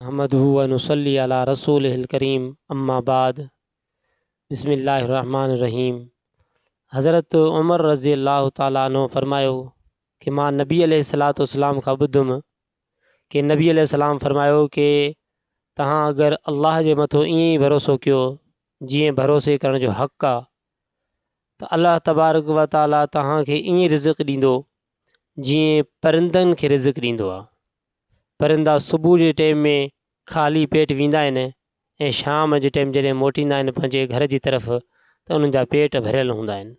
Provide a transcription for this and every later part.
نحمده ونصلي علي رسوله الڪريم اما بعد بسم الله الرحمٰن الرحيم حضرت عمر رضي الله تعالٰي عنه فرمايو ڪي مان نبي عليه الصلاة والسلام کان ٻڌم ڪي نبي عليه السلام فرمايو ڪي تهان اگر الله جي مٿو ائين ئي ڀروسو ڪيو جيئن ڀروسي ڪرڻ جو حق آ ته الله تبارڪ و تعالٰي تهان کي ائين رزق ڏيندو جيئن پرندن کي رزق ڏيندو آ پرندا صبح جي ٽيم ۾ خالي پيٽ ويندا آهن ۽ شام جي ٽيم جڏهن موٽيندا آهن پنهنجي گهر جي طرف ته انهن جا پيٽ ڀريل هوندا آهن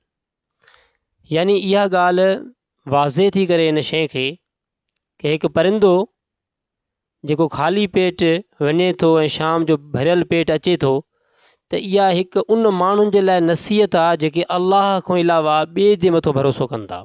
يعني اها ڳالهه واضح ٿي ڪري ان شيء کي ڪي هڪ پرندو جيڪو خالي پيٽ وڃي ٿو ۽ شام جو ڀريل پيٽ اچي ٿو ته اها هڪ ان ماڻهن جي لاء نصيحت آهي جيڪي الله کان علاوه ٻئي جي مٿو ڀروسو ڪن ٿا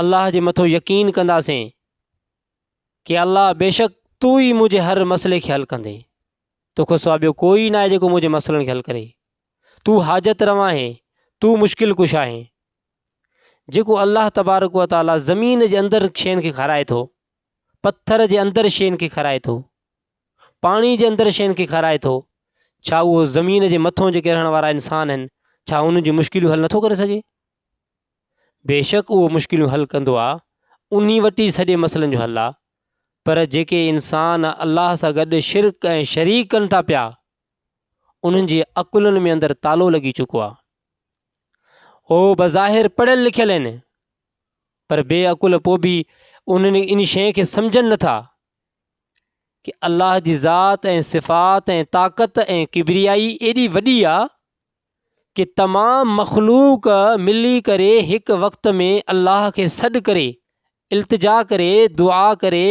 الله جي مٿو يقين ڪنداسين ڪي الله بيشڪ تو ئي منهنجي هر مسئلي کي حل ڪندي توکو سوا ٻيو ڪوئي ناهي جيڪو منهنجي مسئلن کي حل ڪري تو حاجت روا آهي تو مشڪل ڪش آهي جيڪو الله تبارڪ و تعالي زمين جي اندر شين کي کارائي ٿو پٿر جي اندر شين کي کارائي ٿو پاڻي جي اندر شين کي کارائي ٿو ڇا اهو زمين جي مٿو جيڪي رهڻ وارا انسان آهن ڇا انهن جون مشڪلون حل نٿو ڪري سگهي بيشڪ اهو مشڪليون حل ڪندو آهي، انهي وٽ ئي سڄي مسئلن جو حل آهي، پر جيڪي انسان الله سان گڏ شرڪ ۽ شريڪ ڪن ٿا پيا، انهن جي عقلن ۾ اندر تالو لڳي چڪو آهي. هو بظاهر پڙهيل لکيل آهن، پر بي عقل پوء به انهن ان شيء کي سمجهن نه ٿا ڪي الله جي ذات ۽ صفات ۽ طاقت ۽ ڪبريائي ايڏي وڏي آهي، ڪي تمام مخلوق ملي ڪري هڪ وقت ۾ الله کي سڏ ڪري التجا ڪري دعا ڪري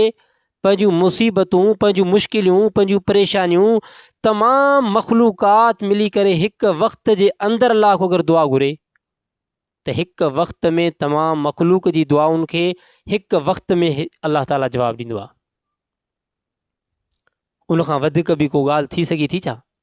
پنهنجون مصيبتون پنهنجون مشڪليون پنهنجون پريشانيون تمام مخلوقات ملي ڪري هڪ وقت جي اندر الله کي اگر دعا گهري ته هڪ وقت ۾ تمام مخلوق جي دعائن کي هڪ وقت ۾ الله تعالي جواب ڏيندو آهي ان کان وڌيڪ به ڪو ڳالهه ٿي سگهي ٿي ڇا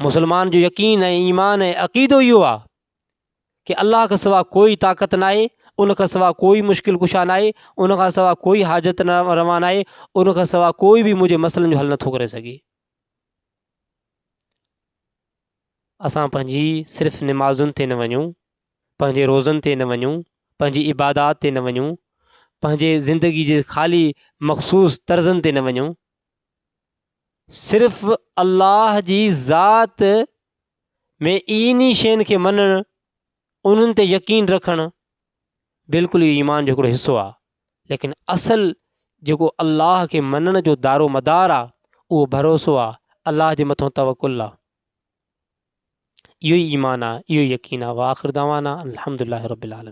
مسلمان جو يقين ۽ ايمان ۽ عقيدو اهو آهي ڪي الله کان سوا ڪوئي طاقت نه آهي ان کان سوا ڪوئي مشڪل ڪشا نه آهي ان کان سوا ڪوئي حاجت نه روا نه آهي ان کان سوا ڪوئي به منهنجي مسئلن جو حل نٿو ڪري سگهي اسان پنهنجي صرف نمازن تي نه وڃون پنهنجي روزن تي نه وڃون پنهنجي عبادات تي نه وڃون پنهنجي زندگي جي خالي مخصوص طرزن تي نه وڃون صرف الله جي ذات ۾ اين ئي شين کي مڃڻ انهن تي يقين رکڻ بلڪل اهو ايمان جو هڪڙو حصو آهي ليڪن اصل جيڪو الله کي مڃڻ جو دارو مدار آهي اهو ڀروسو آهي الله جي مٿان توڪل آهي اهو ئي ايمان آهي اهو ئي يقين آهي واخر دعوانا الحمد لله رب العالمين